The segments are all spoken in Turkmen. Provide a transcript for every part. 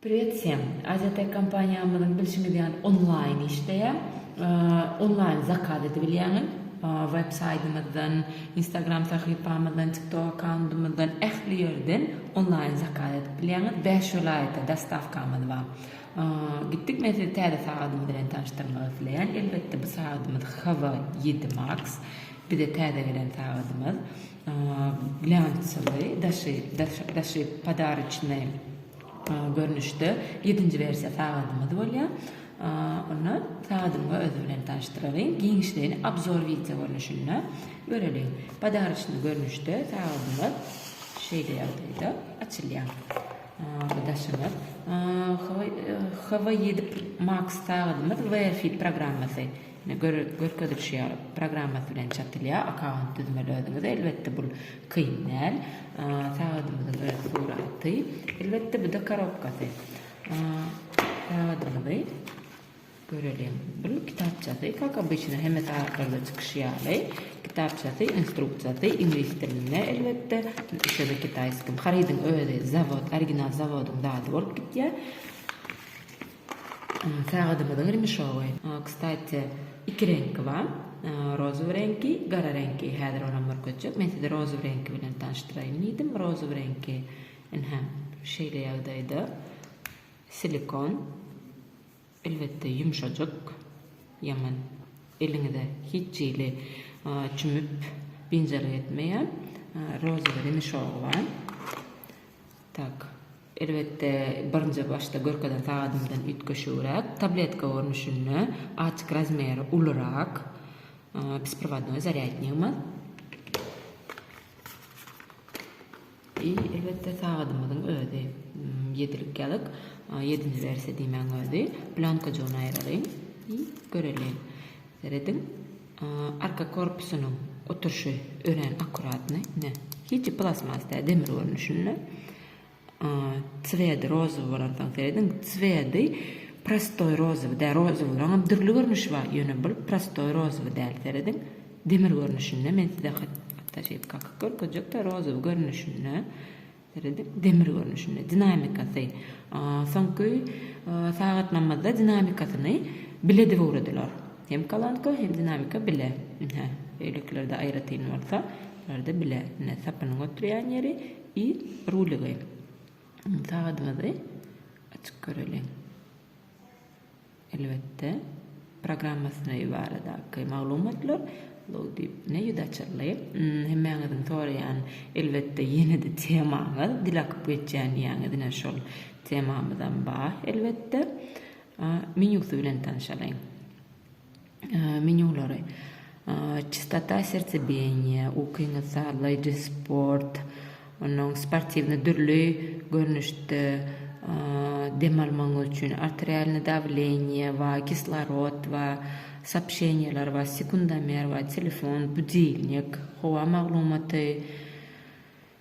Privet sem. Aziatek kompaniýamyzyň bilşiňiz ýaly onlaýn işleýär. Onlaýn zakaz edip bilýäňiz. Web saýtymyzdan, Instagram sahypamyzdan, TikTok akkauntymyzdan ähli ýerden onlaýn zakaz edip bilýäňiz. Bäş welaýata dostawkamyz bar. Gitdik men sizi täze sagadymyz bilen tanyşdyrmak isleýän elbetde bu sagadymyz Hava ýedi Max bize täze gelen sagadymyz glýansowy daşy daşy podaroçnyý görnüşde ýedinji wersiýa sagadymyz bolýar onda sagadymyz özi bilen tanyşdyralyň giňişleýin abzor wideo görnüşinde göreliň podaroçnyý görnüşde sagadymyz şeýle ýagdaýda açylýar. Daşyňyz. HW ýedi Max sagadymyz WFIT programmasy görkezilişi ýaly programmasy bilen çatylýar. Akkaunt düzmeli özüňiz. Elbetde bul kyn däl. Sagadymyzyň öz suraty. Elbetde bu-da korobkasy. Sagadymyzy Göreliň, bul kitapçasy, kak obyçno hemme sagatlarda çykyşy ýaly, kitapçasy, instruksiýasy iňlis dilinde, elbetde, ýa-da kitaýskim. Harydyň özi zawod, original zawodyň zady bolup gitýär. Sagadymyzyň remişowy, kstati, iki reňki bar, rozowy reňki, gara reňki. Häzir olam bir köçek. Men sizi rozowy reňki bilen tanyşdyraýyn diýdim. Rozowy reňki, ynha, şeýle ýagdaýda, silikon. Elbetde ýumşajyk, ýaňyn, eliňize hiç hili çümüp binjalyk etmeýän rozeweli mişogy bar. Tak, elbetde birinji başda görkezen sagadymdan üýtgeşigräk, tabletka görnüşinde, açyk razmeri ulurak, besprovadnoý zarýadnigimiz. I elbetde sagadymyzyň özi ýedilik ýalyk ýedinji wersiýa diýmäň özi planka jon aýralyň i göreliň serediň arka korpusynyň oturyşy örän akkuratny ine hiç plastmas däl demir görnüşinde cwedi rozowy bolansoň serediň cwedi prostoý rozowy däl rozowlaryňam dürli görnüşi bar ýöne bul prostoý rozowy däl serediň. Demir görnüşinde men size haçjyk kakyp görkezjekde rozowy görnüşinde seredip demir görnüşinde dinamikasy soňky sagat namazda dinamikasyny bile edip ugradylar hem kalanka hem dinamika bile ine öýlekilerde aýratyn bolsa larda bile ine sapynyň oturýan ýeri i rulygy sagadymyzy açyk göreliň. Elbetde, programmasyna baradaky maglumatlar zol diýip ne ýüz açyldy. Hemmäňiziň soraýan, elbetde, ýene-de temaňyz, dil akyp geçýän diýýäňiz, ine şol temamyzam bar, elbetde. Menýusy bilen tanşalyň. Menýulary, Çistota sertsebijenýa, Ukyňyzy sazlaýjy sport, onuň sportiwny dürli görnüşde dem almagyňyz üçin arterialny dawleniýe we kislorod we sopşeniýeler we sekundomer we telefon, budilnik, howa maglumaty,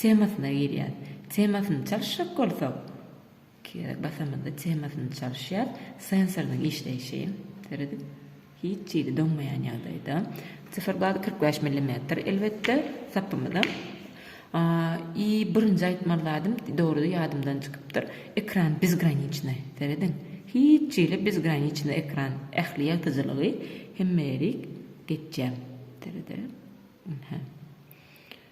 temasyna girýär. Temasyny çalyşjak bolsak, kerek basamyzda temasyny çalyşýar. Sensorynyň işleýşi, seredip, hiç jili doňmaýan ýagdaýda. Syfyr bazy kyrk bäş millimetr, elbetde, sapymyzam. I birinji aýtmaly zadym, dogrudy, ýadymdan çykypdyr, ekran bezgraniçnaý, serediň, hiç jili bezgraniçnaý ekran, ähli ýagtyjylygy hemmeýerik geçýär. Seredeliň, ynha.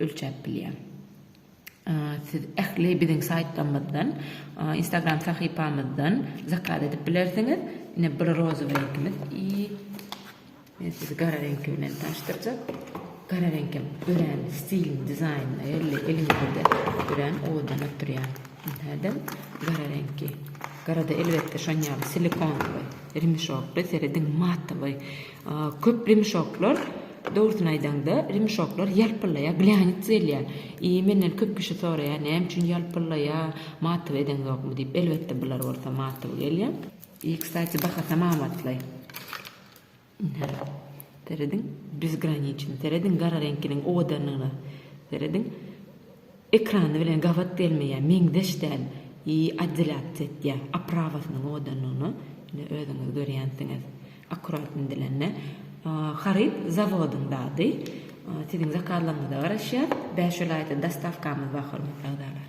ölçäp bilýär. Siz ähli biziň saýtlarymyzdan, Instagram sahypamyzdan zakaz edip bilersiňiz. Ine bir rozowy reňkimiz i men sizi gara reňki bilen tanyşdyrjak. Gara reňk hem örän stilini, dizaýnyny belli eliňizde örän owadan oturýar. Nädem gara reňki. Garada elbetde şon ýaly silikonly, remişokly, serediň matowy Köp rimşoklar, dogrusyny aýdaňda, rimşoklar ýalpyllaýar, bilänits gelýär. I menden köp kişi soraýar, näme üçin ýalpyllaýar, matyp edeňzokmy diýip. Elbetde bular bolsa matyp gelýär. I kstati bahasam amatly. Ine, serediň, bezgraniçny, serediň gara reňkiniň owadanlygyna, serediň. Ekrany bilen gabat gelmeýär meňzeş däl i oddelýatsiýa etýär oprawasynyň owadanlygyna ine özüňiz görýänsiňiz akkurat indilende haryt zawodyň zady siziň zakazlaryňyza garaşýar bäş welaýata dostawkamyz bar hormatly agzalar.